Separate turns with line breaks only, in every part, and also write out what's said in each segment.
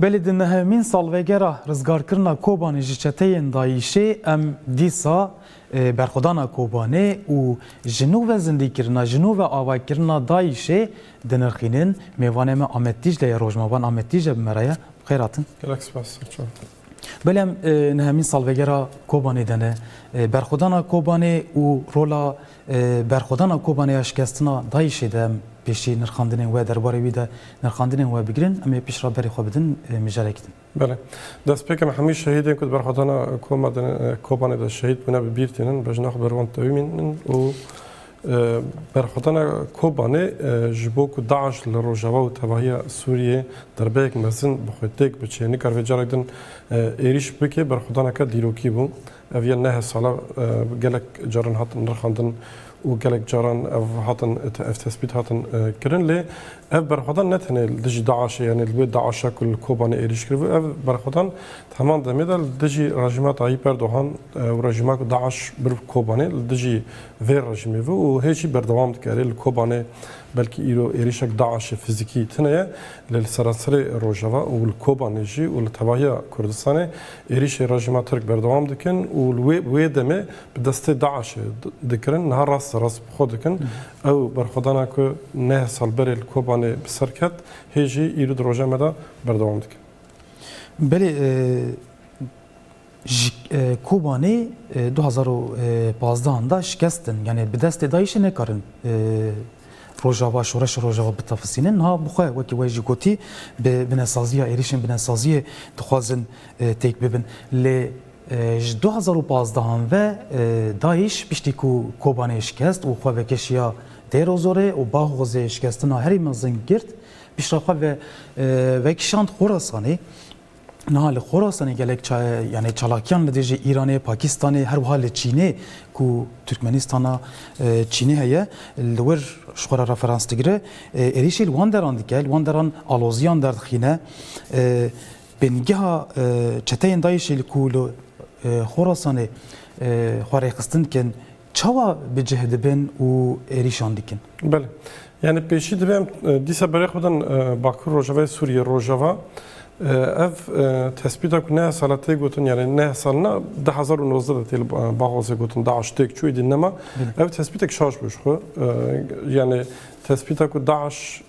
Belê di nehemîn salvegera rizgarkirina Kobanê ji çeteyên DAIŞ'ê em dîsa berxwedana Kobanê û ji nû ve zindîkirina, ji nû ve avakirina DAIŞ'ê dinirxînin. Mêvanê me Amed Dîcle ye, rojnavan Amed Dîcle bi me re ye. Bi xêr hatin. Gelek spas Selçûn.
Belê em
nehemîn salvegera Kobanê de ne. Berxwedana Kobanê û rola Berxwedana Kobanê ya şikestina DAIŞ'ê de em pêşî nirxandinên we derbarê wî de nirxandinên we bigirin, em ê pişt re berê xwe bidin mijarek din. Belê.
Destpêkên hemû şehîdên ku di berxwedana Kobanê de şehîd bûne bi bîr tînin, bejna xwe bi rûan tewîmîn in û berxwedana Kobanê ji bo ku DAIŞ li rojava û tevahiya Sûriyeyê derbeyek mezin bi xwe têk biçe nikar vê carek din êrîş bike, berxwedaneke dîrokî bû. Ev yên neh sala gelek caran hatin nirxandin û gelek caran ev hatin ev tespît hatin kirin. Lê ev berxwedan ne tenê li dijî DAIŞ'ê yanî li wê DAIŞ'a ku li Kobanê êrîş kiribû ev berxwedan di heman demê de li dijî rejîma Tayyîp Erdogan û rejîma ku DAIŞ bir bi Kobanê li dijî vê rejîmê bû û hê jî berdewam dike. Erê li Kobanê belkî îro êrîşek DAIŞ'ê fizîkî tune ye lê li seranserê rojava û li Kobanê jî û li tevahiya Kurdistanê Êrîşên rejîma Tirk berdewam dikin û li wê wê demê bi destê DAIŞ'ê dikirin. Niha rast li rast bi xwe dikin. Ew berxwedana ku neh sal berê li Kobanê bi ser ket, hê jî îro di roja me de berdewam dike. Belê
ji Kobanê du hezar û pazdeh da şikestin. Yanî bi destê DAIŞ'ê nekarin. Rojava, Şoreşa Rojava bi tefsîlîn niha bi xwe wekî wê jî gotî bi binesaziya êrîşên binesaziyê dixwazin têk bibin. Lê ji du hezar û pazdeh an ve DAIŞ piştî ku Kobanê şikest û xwe vekeşiya Dêr Ozorê û Baghozê şikestina herî mezin girt, pişta xwe ve vekişand Xorasanê. Niha li Xorasanê gelek yanê çalakiyan li dijî Îranê, Pakîstanê her wiha li Çînê ku Tirkmenîstana Çînê heye li wir ji xwe re referans digire, êrîşê li wan deran dike, li wan deran aloziyan derdixîne. Bingeha çeteyên DAIŞ'ê li ku li Xorasanê xwe rêxistin dikin, Çawa bi cih dibin û êrîşan dikin? Belê.
Yanî pêşî divê em dîsa berê xwe bidin Bakur Rojavayê Sûriyê, Rojava. Ev tespîta ku neh sal e tê gotin yanî neh sal ne du hezar û nozdeh de tê li Baxozê gotin DAIŞ têk çû êdî nema. Ev tespîtek şaş bû ji xwe. Yanî tespîta ku DAIŞ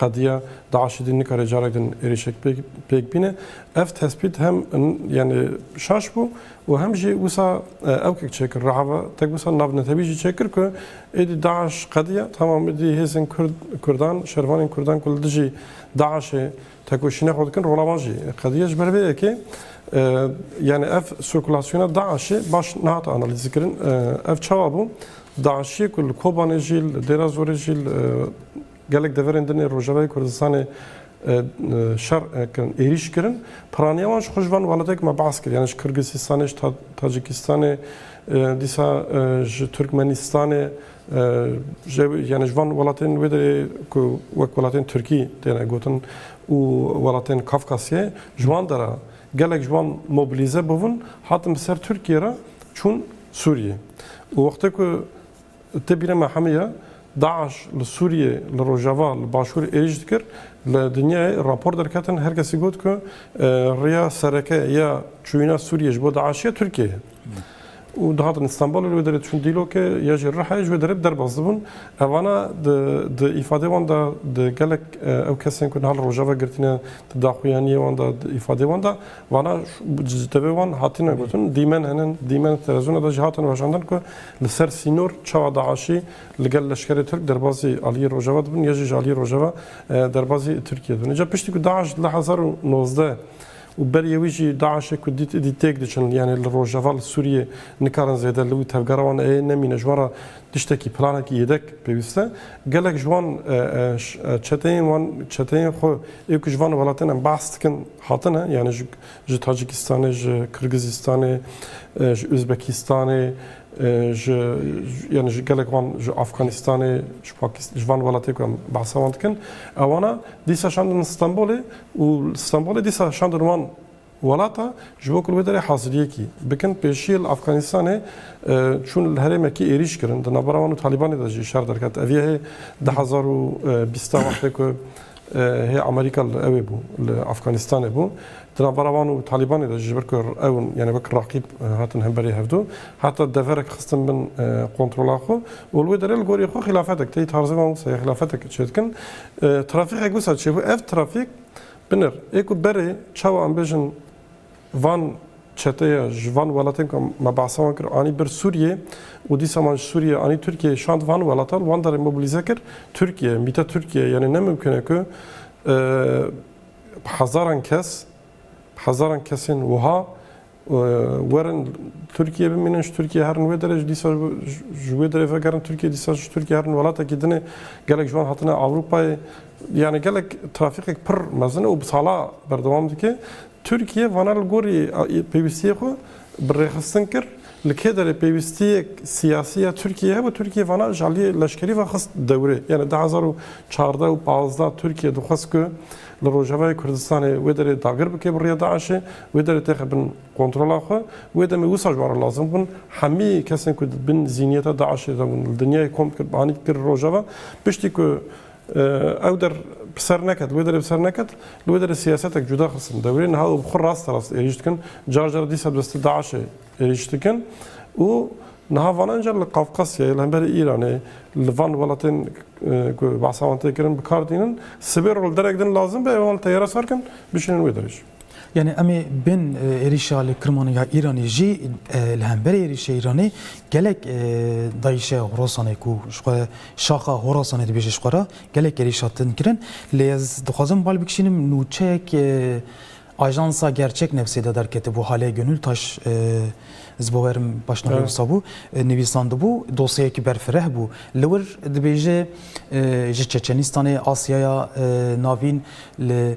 Qediya DAIŞ'ê dî nikare carek din êrîşek pêk bîne. Ev tespît hem yanî şaş bû û hem jî wisa ewkek çêkir. Rehava tek wisa navnetewî jî çêkir ku êdî DAIŞ qediya tamam êdî hêzên Kurd Kurdan, şervanên Kurdan ku li dijî DAIŞ'ê tekoşîna xwe dikin rola wan jî qediya. Ji ber vê yekê yanî ev sirkulasyona DAIŞ'ê baş nehate analîzkirin. Ev çawa bû? DAIŞ'ê ku li Kobanê jî li Dêra Zorê jî li Gelek deverên din ê Rojavayê Kurdistanê şer kirin, êrîş kirin. Piraniya wan ji xwe ji van welateke me behs kir. Yani ji Kirgîsistanê, ji Tacikistanê, dîsa ji Tirkmenistanê yani ji van welatên wê derê ku wek welatên Tirkî têne gotin û welatên Kafkasyê ji wan dera gelek ji wan mobilîze bûbûn, hatin bi ser Tirkiyê re çûn Sûriyê. Û wextê ku Tê bîra me hemû ye, DAIŞ li Sûriyê, li Rojava, li Başûr êrîş dikir. Li dinyayê rapor derketin her kesî got ku rêya sereke ya çûyîna Sûriyê ji bo DAIŞ'ê ya Tirkiyeyê ye. Û dihatin Îstanbulê li wê derê diçûn Dîlokê ya jî Rihayê ji wê derê bi derbas dibûn. Evana di îfadeyê wan de di gelek ew kesên ku niha li Rojava girtîne di daxuyaniyê wan de di îfadeyê wan de vana ji tevê wan hatine gotin dîmen hene dîmen di televîzyona de jî hatine weşandin ku Li ser sînor çawa DAIŞ'î li gel leşkerê Tirk derbazî aliyê Rojava dibin ya jî ji aliyê Rojava derbazî Tirkiyê dibin. Îcar piştî ku DAIŞ li hezar û nozdeh û beriyê wî jî DAIŞ'ê ku dît îdî têk diçin yanê li Rojava li Sûriyê nikarin zêde li wî tevgera wan ê nemîne ji wan re tiştekî planekî yêdek pêwîst e. Gelek ji wan çeteyên wan çeteyên xwe ê ku ji van welatên em behs dikin hatine yanê ji ji Tacikistanê, ji Kirgizistanê, ji Uzbekistanê, ji yani ji gelek wan ji Afganistanê, ji Pakistan, ji van welatê ku em behsa wan dikin, ewana dîsa şandin Stenbolê û Stenbolê dîsa şandin wan welata ji bo ku wê derê haziriyekî bikin. Pêşiyê li Afganistanê çûn li herêmekî êrîş kirin. Di navbera wan û Talîbanê de jî şer derket. Ev yehê du hezar û bîst e wextê ku Hê Amerîka li ewê bû, li Afganîstanê bû. Di navbera wan û Talîbanê de jî ji ber ku ew yanî wek raqîb hatin hemberî hevdu, heta deverek xistin bin kontrola xwe û li wê derê li gorî xwe xîlafetek tê. Tarzê wan wisa ye xîlafetek çê dikin. Trafîkek wisa çêbû. Ev trafîk binir ê ku berê çawa em bêjin, Van çeteye ji van welatên ku me behsa wan kir anî bir Sûriyê û dîsa man ji Sûriyê anî Tirkiyeyê şand van welata li wan derê mobilîze kir Tirkiye, mîte Tirkiye yanî ne mimkun e ku bi hezaran kes bi hezaran kesên wiha werin Tirkiyê bimînin ji Tirkiyê herin wê derê ji dîsa ji wê derê vegerin Tirkiyê dîsa ji Tirkiyê herin welatekî din e gelek ji wan hatine Ewropayê Yanî gelek trafîkek pir mezin e û bi sala berdewam dike. Tirkiye vana li gorî pêwîstiyê xwe bi rêxistin kir. Li kê derê pêwîstiyek siyasî ya Tirkiyeyê hebe Tirkiye vana ji aliyê leşkerî ve xist dewrê. Yanî du hezar û çardeh û pazdeh Tirkiye dixwest ku li Rojavayê Kurdistanê wê derê dagir bike bi rêya DAIŞê, wê derê têxe bin kontrola xwe. Wê demê wisa ji wan re lazim bûn hemî kesên ku di bin zîniyeta DAIŞê de bûn li dinyayê kom dikir bi anî dikir li Rojava. Piştî ku Ew der bi ser neket, li wê derê bi ser neket, li wê derê siyasetek cuda xistin dewrê. Niha ew bi xwe rast rast êrîş dikin. Car car dîsa bi destê DAIŞ'ê êrîş dikin û niha vanan car li Qafqasyayê, li hemberî Îranê, li van welatên ku behsa wan tê kirin bi kar tînin. Sibê re li derek din lazim be ew wan li teyare sar kin bişînin wê derê jî. Yanî em ê
bên êrîşa li Kirmanê ya Îranê jî li hemberê êrîşê Îranê gelek dayîşe Horasanê ku ji xwe şaxa Horasanê dibêje ji xwe re gelek êrîşa din kirin. Lê ez dixwazim bal bikişînim nûçeyek ajansa Gerçek Newsê de derketibû Hale Gönültaş ez bi werim başnavê wisa bû nivîsandibû dosyeyekî berfireh bû li wir dibêje ji Çeçenistanê Asyaya Navîn li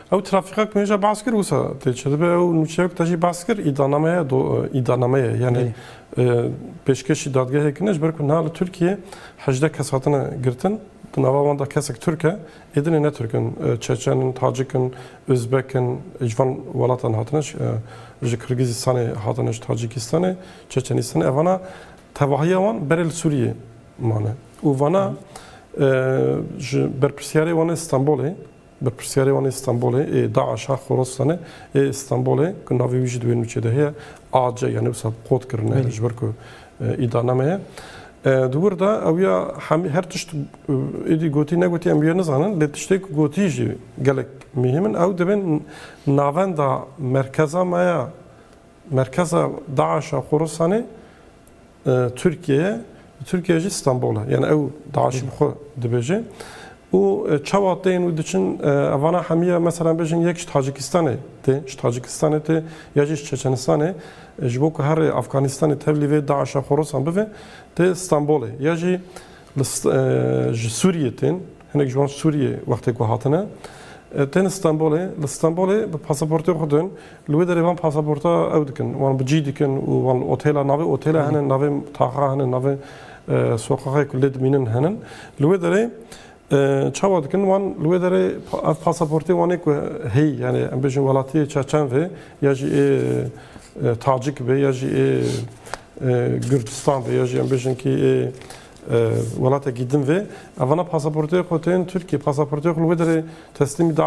Ew trafîka
ku hêja behs kir wisa tê çêdibe ew nûçeya ku te jî behs kir îdanameye îdanameye yanê pêşkeşî dadgehê kine ji ber ku niha li Tirkiyê hejdeh kes hatine girtin di nava wan de kesek Tirk e êdinê ne Tirk in Çeçen in Tacik in Ozbek in ji van welatan hatine ji Kirgîzîstanê hatine ji Tacîkîstanê Çeçenîstanê evana tevahiya wan berê li Sûriyê mane û vana ji berpirsiyarê wan ê Stenbolê Berpirsyarê wan ê Stenbolê ê DAIŞ'a Xorasane ê Stenbolê ku navê wî jî di wê nûçê de heye AC ya ne wisa qot kirine ji ber ku îdaname ye. Di wir de ew ya hemî her tişt êdî gotî negotî em wê nizanin lê tiştê ku gotî jî gelek mihîm in ew divê navenda merkeza me ya merkeza DAIŞ'a Xorasane Tirkiyeyê, li Tirkiyeyê jî Stenbol e. Yani ew DAIŞ'î bi xwe dibêje. Û çawa tên û diçin evana hemîya meselan bêjin yek ji Tacikistanê tê, ji Tacikistanê tê ya jî ji Çeçenistanê ji bo ku herê Afganistanê tevlî vê DAIŞ'a xorosan bive tê Stenbolê ya jî Li ji Sûriyê tên, hinek ji wan ji Sûriyê wextê ku hatine, tên Stenbolê, li Stenbolê bi pasaportên xwe tên, li wê derê van pasaporta ew dikin, wan bi cî dikin û wan li otêla, navê otêla hene, navê taxa hene, navê soqaxê ku lê dimînin hene. Li wê derê çawa dikin, wan li wê derê ev pasaportê wan ê ku heyî, yanî em bêjin welatiyê çeçen vê ya jî ê tacik vê ya jî ê, Gurdistan ve ya jî em bêjin kî ê welatekî din vê. Ev vana pasaportê xwe tên Tirkiyê. Pasaportê xwe li wê derê teslîmî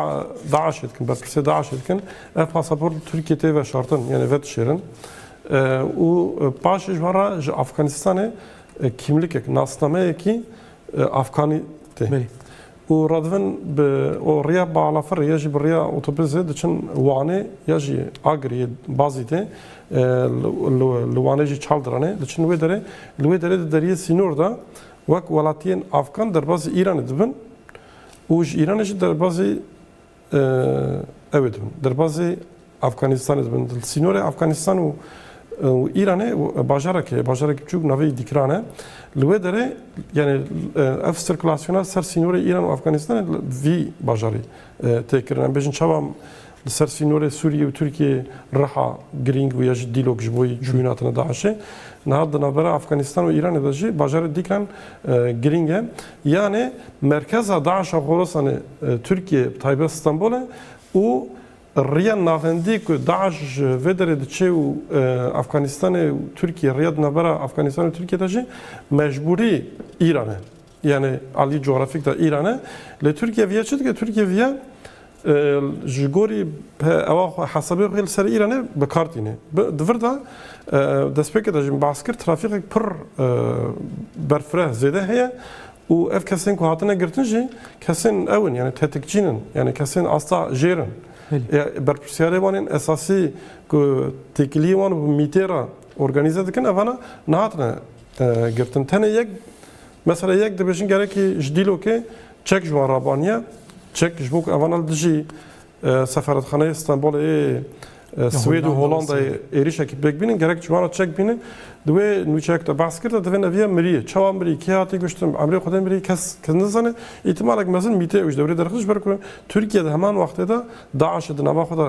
DAIŞ'ê dikin, berpirsê DAIŞ'ê dikin. Ev pasaport li Tirkiyê tê veşartin yanê vedişêrin. Û paşê ji wan re ji Afganistanê kîmlikek, nasnameyekî Afganî tê. û Radvin bi û riya balafirê ya jî bi riya otobizê diçin Wanê ya jî Agirî yê Bazî tê li Wanê jî Çaldiran e diçin wê derê li wê derê di deriyê sînor de wek welatiyên Afgan derbazî Îranê dibin û ji Îranê jî derbazî Ew ê dibin derbazê Afganîstanê dibin li sînorê Afganîstan û Îranê û bajarek heye bajarek biçûk navê Dîkran e. Li wê derê yanê ev sirkulasyona ser sînorê Îran û Afganîstanê li vî bajarî tê kirin. Em bêjin çawa li ser sînorê Sûriyê û Tirkiyê riha girîng bûye ji dîlok ji bo çûyîn hatina DAIŞ'ê. Niha di navbera Afganîstan û Îranê de jî bajarê Dîkran girîng e. Yanê merkeza DAIŞ'a Xorasanê Tirkiyeyê bi taybet Stenbol e û riya navendî ku DAIŞ ji vê derê diçe û Efxanistanê û Tirkiye riya di navbera Efxanistan û Tirkiye de jî mecbûrî Îran e. Yanê aliyê cografîk de Îran e. Lê Tirkiye viya çi dike? Tirkiye viya Ji gorî ewa xwe hesabê xwe li ser Îranê bi kar tîne. Di vir de destpêkê de jî behs kir trafîkek pir berfireh zêde heye û ev kesên ku hatine girtin jî kesên ew in yanî tetikçîn in yanî kesên asta jêr in. Berpirsiyarê wan ên esasî ku têkiliyê wan bi mîtê re organîze dikin ev hene nehatine girtin. Tenê yek mesela yek dibêjin gerekî ji Dîlokê Çek ji wan rabaniye, çek ji bo ku evan li dijî Sefaretxaneyê Stenbolê yê Swêd û Holandayê êrîşekî pêk bînin, gerek ji wan re çek bîne. Di wê nûçeyê ku te behs kir de divê neviya miriyê, çawa mirî, kê hatî kuştin, emrê xwedê mirî kes nizane. Îhtimalek mezin mîtê ew ji dewrê derxist ji ber ku Tirkiye di heman wextê de DAIŞ'ê di nava xwe de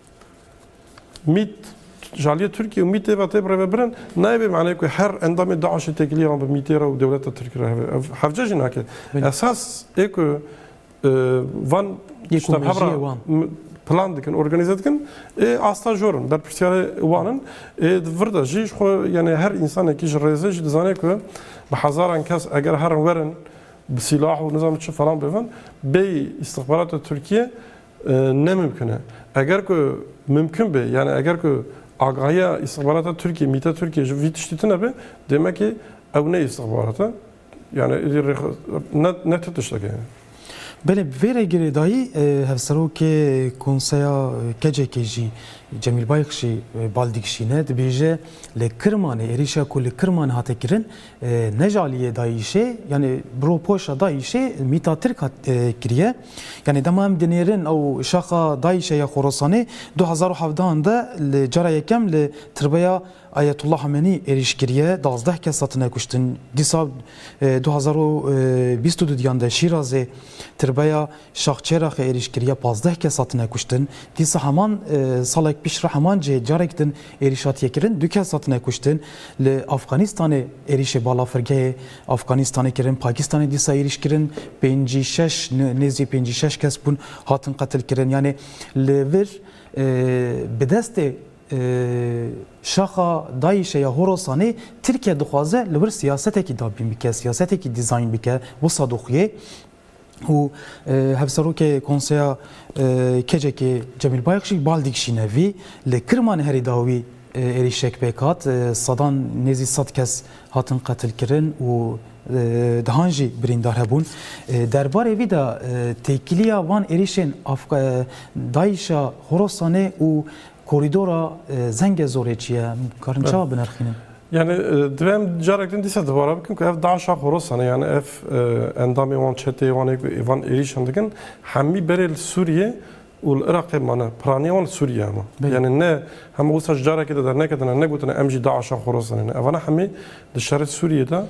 Mît, Jaliyê Tirkî û Mîtê ve tê birêvebirin, nayê bê maneyê ku her endamê DAIŞ'ê têkilî ran bi Mîtê re û dewleta Tirk re heve. Ev hevce jî nake. Esas ê ku van tişta hebra plan dikin, organîze dikin ê asta jor in. Berpirsyarê wan in. Ê di vir de jî ji xwe yanê her însanekî ji rêzê jî dizanê ku bi hezaran kes eger herin werin bi sîlah û nizanim çi falan bêvin bêyî îstixbarata Tirkîyê Ne mimkun e. Eger ku mimkun be, yanî eger ku agahiya îstixbarata Tirkiyê, mîta Tirkiyê ji vî tiştî tune be, demekê ew ne îstixbarat e, yanî êdî rê xwe ne ne ti tişteke ye. Belê bi vê
re girêdayî Hevserokê Konseya KCK'ê jî Cemîl Bayix jî bal dikişîne, dibêje li Kirmanê êrîşa ku li Kirmanê hate kirin ne ji aliyê DAIŞ'ê, yanî bi ropoşa DAIŞ'ê mîta Tirk hat kiriye. Yanî dema em dinêrin ew şaxa Daîşê ya Xorasanê du hezar û hevdeh an de li cara yekem li tirbeya Ayetullah Hamenî êrîş kiriye, duwazdeh kes hatine kuştin. Dîsa du hezar û bîst û du diyan de Şîrazê tirbeya Şax Çêraxê êrîş kiriye, pazdeh kes hatine kuştin. Dîsa heman salek pîş re heman cihê carek din êrîş hatiye kirin, du kes hatine kuştin. Li Afxanistanê êrîşê balafirgehê Afganîstanê kirin, Pakîstanê dîsa êrîş kirin, pêncî şeş nêzî pêncî şeş kes bûn hatin qetil kirin. Yanê li vir bi destê şaxa DAIŞ'ê ya Horasanê Tirkiye dixwaze li wir siyasetekî dabîn bike, siyasetekî dîzayn bike, wisa dixuyê. û Hevserokê Konseya KCK'ê Cemîl Bayik jî bal dikişîne vî. Li Kirmanê herî dawî êrîşek pêk hat. Sedan nêzî sed kes hatin qetilkirin û dehan jî birîndar hebûn. Derbarê vî de têkiliya van êrîşên Daîşa Horasanê û korîdora Zengezorê çi ye? Karin çawa binirxînin? Yani
divê em carek din dîsa dibara bikin ku ev DAIŞ'a xorosan e yani ev endamê wan çetê wan ê ku van êrîşan dikin hemî berê li Sûriyê û li Iraqê mane. Piraniya wan li Sûriyê hema. Yani ne hema wisa ji carekê de derneketine ne gotine em jî DAIŞ'a xorosan e ne. Evana hemî di şerê Sûriyê de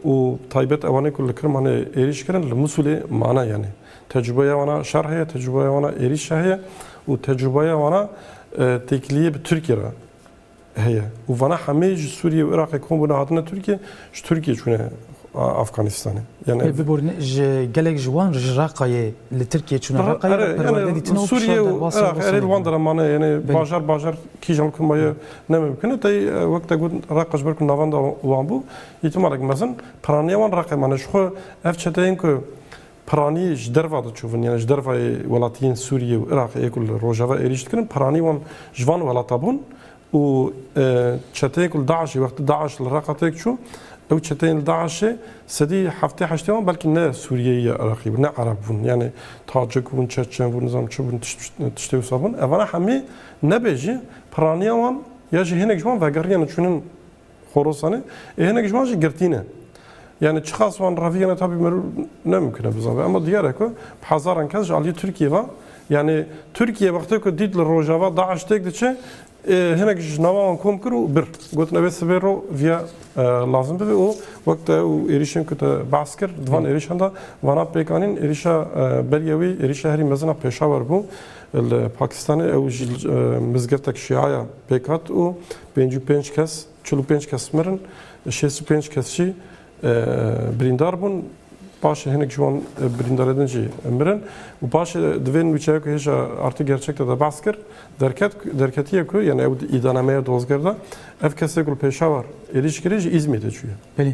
û taybet ewanê ku li Kirmanê êrîş kirin li Mûsulê mane yani. Tecrûbeya wana şer heye, tecrûbeya wana êrîş heye û tecrûbeya wana têkiliyê bi Tirkiyê re. Heye û vana hemê ji Sûriyê û Iraqê kom bûne hatine Tirkiyê ji Tirkiyê çûne Afganîstanê. Yan ev Biborîne ji
gelek ji wan ji Raqayê li Tirkiyê çûne Raqayê re perwerde dîtin û Sûriyê û Iraqê erê
li wan de re mane yanê bajar bajar kîjan li ku ma ye ne mimkun e. Tey wek te got Raqa ji ber ku navenda wan bû îtimalek mezin piraniya wan Raqê mane. Jixwe ev çeteyên ku Piranî ji derva diçûvin yanî ji derva yê welatiyên Sûriyê û Iraqê yê ku li rojava êrîş dikirin piranî wan ji van welata bûn û çeteyên ku li DAIŞ'ê wextê DAIŞ li Reqa têk çû ew çeteyên li DAIŞ'ê sedî heftê heştê wan belkî ne Sûriyeyî ya Iraqî bûn ne Ereb bûn yanî Tacik bûn Çeçen bûn nizam çi bûn tiştê wisa bûn. Evana hemî nebe jî piraniya wan ya jî hênek ji wan vegeriyane çûnin Xorasanê ê hinek ji wan jî girtî ne. Yani çiqas wan revî ne tabî merû nemkine bizave ema diyar e ku bi hezaran kes ji aliyê Tirkiyê ve yani Tirkiye wextê ku dît li rojava DAIŞ têk diçe hinek ji nava wan kom kir û bir gotin ev ê sibê ro viya lazim bibe û wek te û êrîşên ku te behs kir di van êrîşan de vana pêkanîn êrîşa beriya wî êrîşa herî mezina Pêşawer bû li Pakistanê ew ji mizgiftek şîaya pêk hat û Pênc û pênc kes, çil û pênc kes mirin, şêst û pênc kes jî birîndar bûn. Paşê hinek ji wan birîndarê din jî mirin û paşê di vê nûçeya ku hêja artık gerçek de de behs kir derket derketiye ku yani ew îdanemeya dozger de ev kesê ku li Pêşawar êrîş kirê ji Îzmîrê çûye. Belê.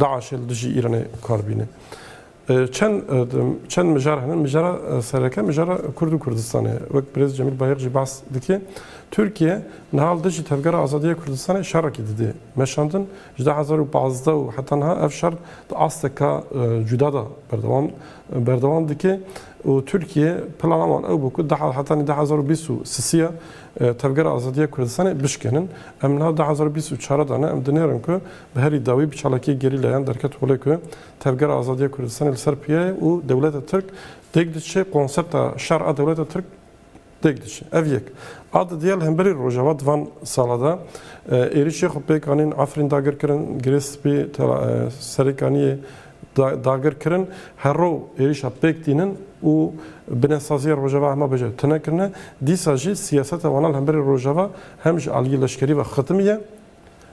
DAIŞ li dijî Îranê kar bîne. Çend çend mijar hene, mijara sereke, mijara Kurd û Kurdistanê. Wek Birêz Cemîl Bayix jî behs dike, Tirkiye niha li dijî Tevgera Azadiya Kurdistanê şerekî dide meşandin. Ji du hezar û pazdeh û heta niha ev şer di asteka cuda de berdewam berdewam dike û Tirkiye plana wan ew bû ku heta du hezar û bîst û sisiya Tevgera Azadiya Kurdistanê bişkenin. Em niha du hezar û bîst û çar de ne, em dinêrin ku Bi herî dawî bi çalakiyê gerîlayan derket holê ku Tevgera Azadiya Kurdistanê li ser piya ye û dewleta Tirk têk diçe, konsepta şer a dewleta Tirk têk diçe. Ev yek. A didiya li hemberî Rojava di van sala de êrişê xwe pêk anîn, Efrîn dagir kirin, Girê Spî, Serêkaniyê dagir kirin. Her roj êrişa pêk tînin û binesaziya Rojava hema beje tune kirine. Dîsa jî siyaseta wana li hemberî Rojava hem ji aliyê leşkerî ve xitimiye,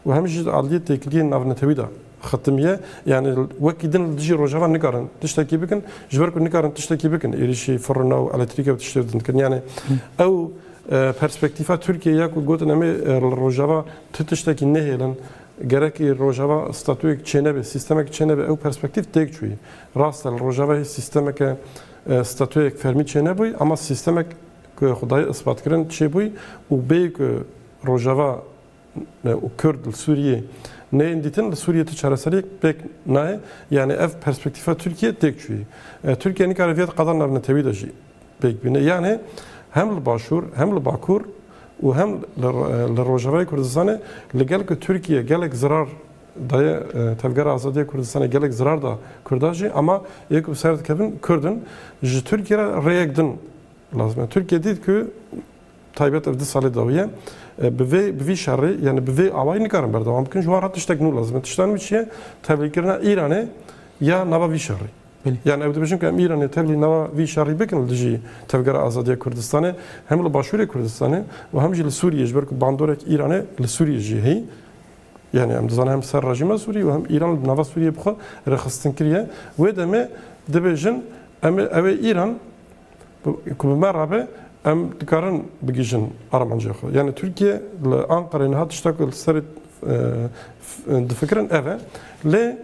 û hem jî di aliyê têkiliyên navnetewî de xetimiye, yanî wekî din li dijî rojava nikarin tiştekî bikin, ji ber ku nikarin tiştekî bikin êrîşî firina û eletrîke û tiştê din dikin. Yanî ew perspektîfa Tirkiyeyê ye ku gotin em ê li rojava ti tiştekî nehêlin, gerekî rojava statuyek çênebe, sîstemek çênebe ew perspektîf têk çûyî. Rast e li rojava hê sîstemeke statuyek fermî çênebûyî ama sîstemek ku xwe daye isbatkirin çêbûyî û bêyî ku rojava û Kurd li Sûriyê neyên dîtin li Sûriyê tu çareseriyek pêk nayê yanî ev perspektîfa Tirkiyê têk çûyî. Tirkiye nikare viyê di qada navnetewî de jî pêk bîne yanî hem li başûr hem li bakur û hem li rojavayê Kurdistanê li gel ku Tirkiye gelek zirar daye Tevgera Azadiyê Kurdistanê gelek zirar da Kurdan jî ama yê ku bi ser dikevin Kurd in ji Tirkiye re rêyek din lazim e. Tirkiye dît ku Taybet ev du salê dawiye bi vê bi vî şerê yani bi vê awayî nikarin berdewam bikin ji wan re tiştek nû lazim e. Tişta nû çi ye? Tevlîkirina Îranê ya nava vî şerê. Yani ew dibêjin ku em Îranê tevlî nava vî şerî bikin li dijî Tevgera Azadiya Kurdistanê hem li Başûrê Kurdistanê û hem jî li Sûriyê ji ber ku bandorek Îranê li Sûriyê jî heyî. Yani em dizanin hem ser rejîma Sûrî û hem Îran li nava Sûriyê bi xwe rêxistin kiriye. Wê demê dibêjin em ê ew ê Îran Ku bi me re be em dikarin bigihîjin armancên xwe. Yanî Tirkiye li Anqereyê niha tişta ku li serê difikirin ev e. Lê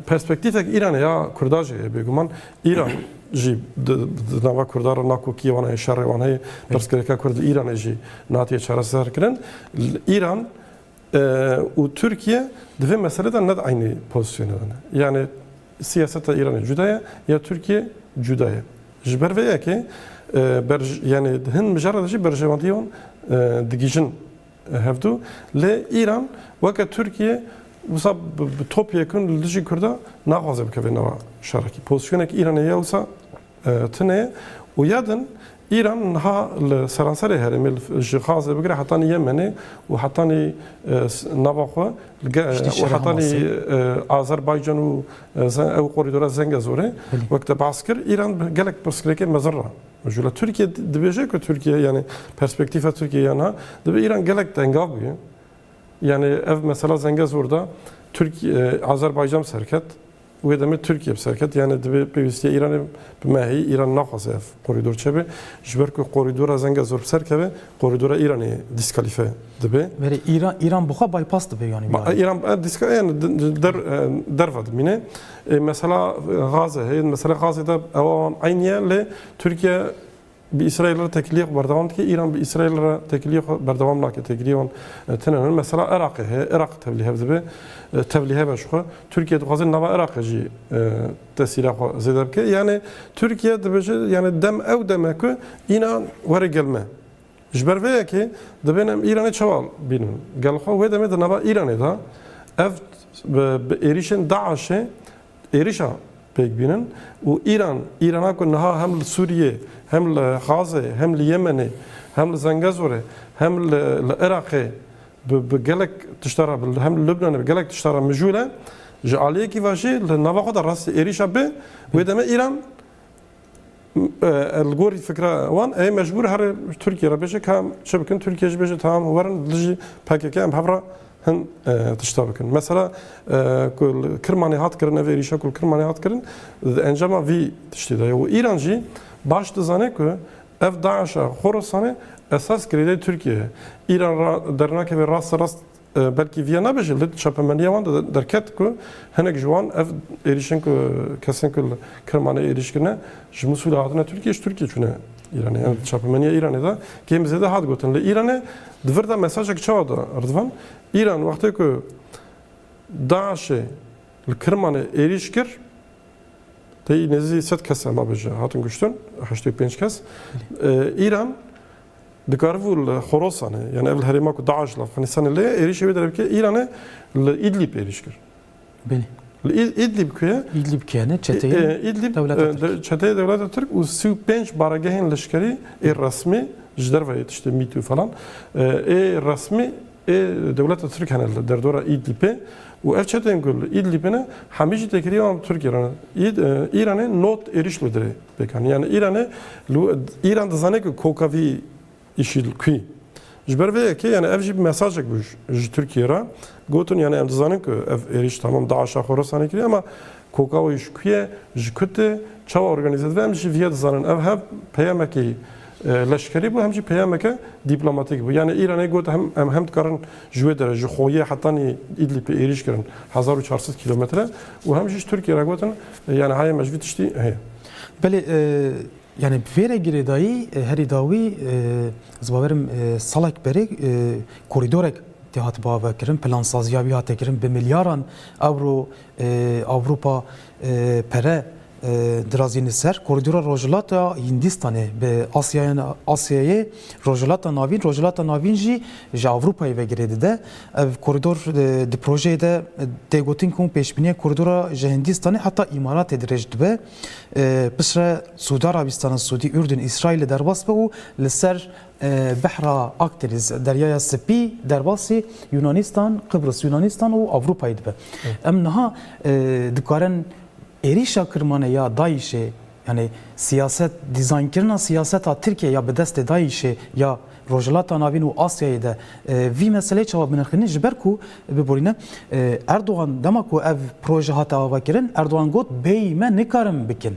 perspektîfek Îranê ya Kurda jî heye bêguman. Îran jî di nava Kurdan re nakokiyê wan heye, şerê wan heye. Pirsgirêka Kurd li Îranê jî nehatiye çareserkirin. Îran Û Tirkiye di vê meselê de ne di eynî pozîsyonê de ne. Yanî siyaseta Îranê cuda ye ya Tirkiye cuda ye. Ji ber vê yekê berj yanî di hin mijara de jî berjewendî wan digihîjin hevdu. Lê Îran weke Tirkiye wisa bi top yekin li dijî Kurda naxwaze bikeve nava şerekî. Pozîsyoneke Îranê ya wisa Tune û ya din, Îran niha li seranserê herêmê ji Xazê bigire hetanî Yemenê û hetanî nava xwe û hetanî Azerbaycan û ew korîdora Zengezorê wek te behs kir, Îran bi gelek pirsgirêkên mezin re mijûl e. Tirkiye dibêje ku Tirkiye yanî perspektîfa Tirkiyeyê ya niha divê Îran gelek tengav bûye. Yanî ev mesela Zengezor de Azerbaycan bi ser ket. Wê demê Tirkiye bi ser ket yanê dibê pêwîstiya Îranê bi me heyî. Îran naxwaze ev korîdor çebe. Ji ber ku korîdora Zengezor bi ser keve, korîdora Îranê dîskalîfe dibê. Berê Îran Îran
bi xwe bypass dibê yanî Ma biyayê. Îran e dîska yani
di- di- der e, derve dimîne. Ê mesela e, gaze heye, mesela gazê de ew awan eynî ye lê Tirkiye Bi Îsraîl re tekilîyê xwe berdewam dike. Îran bi Îsraîl re tekilîyê xwe berdewam nake. Tekilîyê wan tune ne. Mesela Iraqê heye. Iraq tevlîhev dibe. Tevlîhev e ji xwe. Tirkîye dixwaze nava Iraqê jî tesîra xwe zêde bike. Yanê Tirkîye dibêje yanê dem ew dem e ku înan were gel me. Ji ber vê yekê dibêne em Îranê çawa bînin. Gel xwe wê demê di nava Îranê de ev bi êrîşên DAIŞ'ê êrişa pêk bînin û Îran, Îrana ku niha hem li Sûriyê, hem li Xazê, hem li Yemenê, hem li Zengezorê, hem li Iraqê bi gelek tişta re, hem li Lubnanê bi gelek tişta re mijûl e, ji aliyekî ve jî li nava xwe de rastî êrişa bi wê demê Îran Li gorî fikra wan ê mecbûr herê Tirkiyê re bêje ka em çi bikin, Tirkiye jî bêje tamam werin li dijî pkk em hev re hin tişta bikin. Mesela ku li Kirmanê hat kirin ev êrîşa ku li Kirmanê hat kirin di encama vî tiştê de ye û Îran jî baş dizane ku ev DAIŞ'a Xorasanê esas girêdayî Tirkiyê ye. Îran ra dernakeve rasterast Belkî vîya nebe jî li çapemeniya wan de derket ku hinek ji wan ev êrîşên ku kesên ku li Kirmanê êrîş kirine ji Musûlê hatine Tirkiyê ji Tirkiyê çûne Îranê. Yan di çapemeniya Îranê de kêm bi zêde hat gotin. Li Îranê di vir de mesajek çawa da Rıdvan? Îran wextê ku DAIŞ'ê li Kirmanê êrîş kir tê nêzî sed kes em abêje hatin kuştin heştê û pênc kes. Îran Dikaribû li Horasanê yanî ev li herêma ku DAIŞ li Efxanistanê lê ye êrîşê wê derbikê Îranê li Îdlîb êrîş kir. Belê.
Li Îdlîb
ku ye? Îdlîb ku ye ne
çeteyê Îdlîb
çeteyê dewleta Tirk û sî û pênc baregehên leşkerî ê resmî ji derve yê tiştê mît û falan ê resmî ê dewleta Tirk hene li derdora Îdlîbê û ev çeteyên ku li Îdlîbê ne hemî jî têkilî wan bi Tirkiyê re ne. Îranê not êrîş li dirê. Pêkan yan Îranê lû Îran dizane ku koka vî îşî li ku ye. Ji ber vê yekê yan ev jî mesajek bû ji Tirkiyê re gotin yan em dizanin ku ev êrîş tamam DAIŞ'a Xorasanê kiriye ama koka wî ji ku ye, ji ku tê, çawa organîze dibe em jî vî ye dizanin. Ev hev peyamekî Leşkerî bû hem jî peyameke dîplomatîk bû. Yanî Îranê got hem em hem dikarin ji wê derê ji Xoyê hetanî Îdlîpê êrîş kirin hezar û çar sed kîlometre û hem jî ji Tirkiyê re gotin yanî heye me ji vî tiştî heye. Belê
yanî bi vê re girêdayî herî dawî ez ê biverim salek berê korîdorek tê hat bave kirin, plansaziya wî hate kirin bi milyaran ewro Ewropa pere dirazîne ser korîdora Rojhilata Hîndîstanê bi Asyayê, Rojhilata Navîn, Rojhilata Navîn jî ji Ewropayê ve girê dide. Ev korîdor di projeyê de tê gotin ku pêşbîniya korîdora ji Hîndîstanê heta Îmaratê dirêj dibe, piştre Siûdî Arabîstana Siûdî, Urdun, Îsraîlê derbas be û li ser Behra Akdeniz, Deryaya Sipî, derbasî Yûnanîstan, Qibris, Yûnanîstan û Ewropayê dibe. Em niha dikarin êrîşa kirmane ya DAIŞ'ê, yanî siyaset dîzaynkirina siyaseta Tirkiyeyê ya bi destê DAIŞ'ê ya Rojhilata Navîn û Asyayê de vî meseleyê çawa binirxînin ji ber ku biborîne Erdogan dema ku ev proje hate avakirin Erdogan got bêyî me nikarin bikin.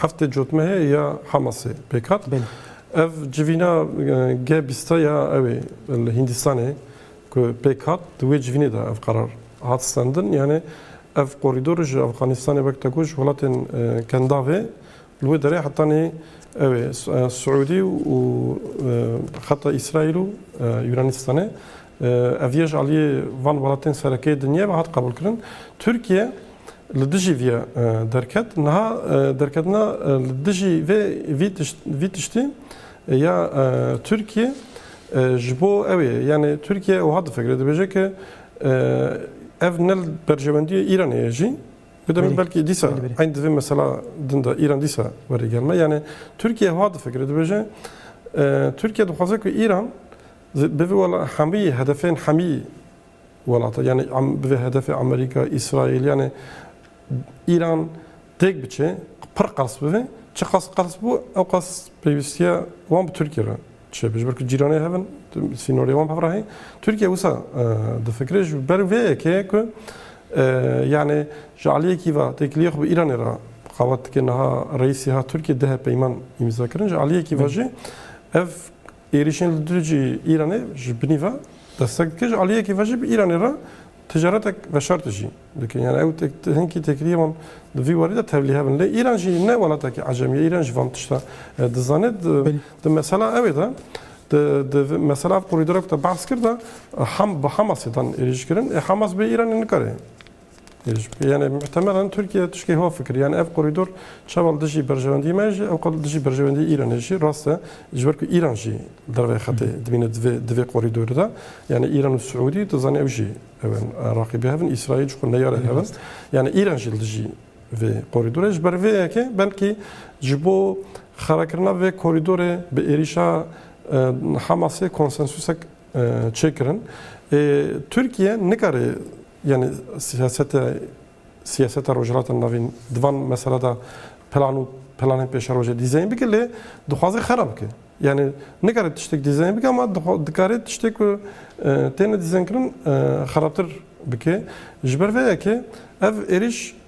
Heftê cotmehê ya Hamasê pêk hat. Ev
civîna
G20 ya ew ê li Hîndistanê ku pêk hat di wê civînê de ev qerar hat stendin. Yanê ev korîdor ji Efxanistanê wek teko ji welatên kendavê li wê derê hetanî ew ê Siûdî û xeta Îsraîl û Yûnanîstanê. Ev yê ji aliyê van welatên serekê dinyayê ve hat qebûlkirin. Tirkiye li dijî vê ya derket. Niha derketina li dijî vê vî tiştî ya Tirkiyê ji bo ew ye. Yanî Tirkiye wiha difikire dibêje ku ev ne li berjewendiyê Îranê ye jî. Bi demê belkî dîsa eyn di vê mesela din de Îran dîsa were gel me. Yanî Tirkiye wiha difikire dibêje Tirkiye dixwaze ku Îran bi vî wela hemî hedefên hemî Welata yanî bi vê hedefê Amerîka, Îsraîl yanî Îran têk biçe, pir qers bibe, çiqas qers bû ewqas pêwîstiya wan bi Tirkîye re çêbe. Ji ber ku cîranê hev in, sînorê wan bi hev re heye. Tirkîye wisa difikire ji ber vê yekê ku yanî ji aliyekî ve têkiliyê xwe bi Îranê re qawet dike. Niha Reîsî hat Tirkîye duh peyman îmzakirin. Ji aliyekî ve jî ev Êrîşên li dû cî Îranê ji binî ve destek dike, ji aliyekê ve jî bi Îranê re ticaretek veşartî jî dikin. Yanî ew hinkî têkiliyê wan di vî warî de tevlî hev in. Lê Îran jî ne welatekî ecem ye. Îran jî van tişta dizane. Di mesela ew ê de, di mesela ev korîdora ku te behs kir de bi Hamasê dan êrîşkirin. Ê Hamas bê Îranê nikare Yani muhtemelen Tirkiye tişkê ha fikir. Yani ev korîdor çawa li dijî berjewendî me jî ewqas li dijî berjewendî Îranê jî rast e. Ji ber ku Îran jî dervê xetê dimîne di vê di vê korîdorê de. Yani Îran û Siûdî tu zanî ew jî ew in raqîbê hev in. Îsraîl ji xwe neyare hev in. Yani Îran jî li dijî vê korîdorê ji ber vê yekê belkî ji bo xerakirina vê korîdorê bi êrîşa Hamasê konsensûsek çêkirin. Tirkiye nikare Yanî siyasete siyaseta Rojhilata Navîn di van mesela de plan û planên pêşerojê dîzeyn bike lê dixwaze xera bike. Yanî nikare tiştek dîzeyn bike ama dikare tiştê ku têne dîzeynkirin xerabtir bike. Ji ber vê yekê ev êrîş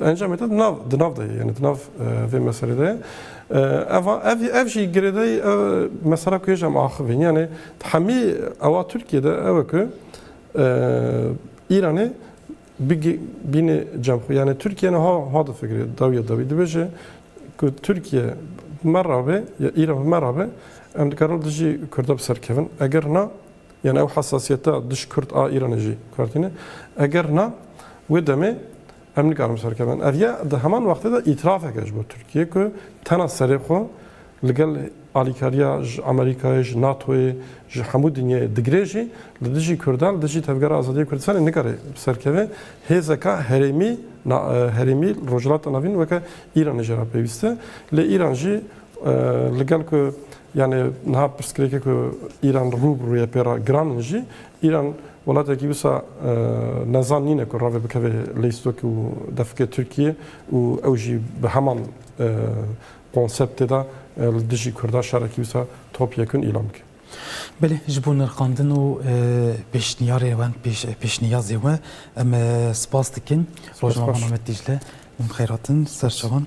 Encamê te di nav di nav de ye yanî di nav vê meselê de ye. Ev ev ev jî girêdayî ev mesela ku hêj em axivîn yanî di hemî ewa Tirkiyê de ew e ku Îranê bînê cem xwe yanî Tirkiye niha ha difikirê dawiya dawî dibêje ku Tirkiye me rabê ya Îran me rabê em dikarin dijî Kurda bi ser kevin eger na Yan ew hesasiyeta dij Kurd a Îranê jî kartîne? Eger na, wê demê em nikarin bi ser kevin. Ev ya di heman wextê de îtirafek e ji bo Tirkiyê ku tena serê xwe li gel alîkariya ji Amerîkayê, ji NATO'yê, ji hemû dinyayê digire jî li dijî Kurdan, li dijî Tevgera Azadiyê Kurdistanê nikare bi ser keve. Hêzeka herêmî na herêmî li Rojhilata Navîn weke Îranê jê re pêwîst e. Lê Îran jî li gel ku Yanê niha pirsgirêkê ku Îran rû bi rû ye pê re giran in jî, Îran welatekî wisa nezan nîne ku ravê bikeve leystokê û defikê Tirkiyê û ew jî bi heman konseptê de li dijî Kurda şerekî wisa top yekun îlan bike. Belê ji bo
nirxandin û pêşniyarê we, pêşniyazê we em spas dikin. Rojname Mehmet Dîcle, Mem Xeyratin, Serçevan.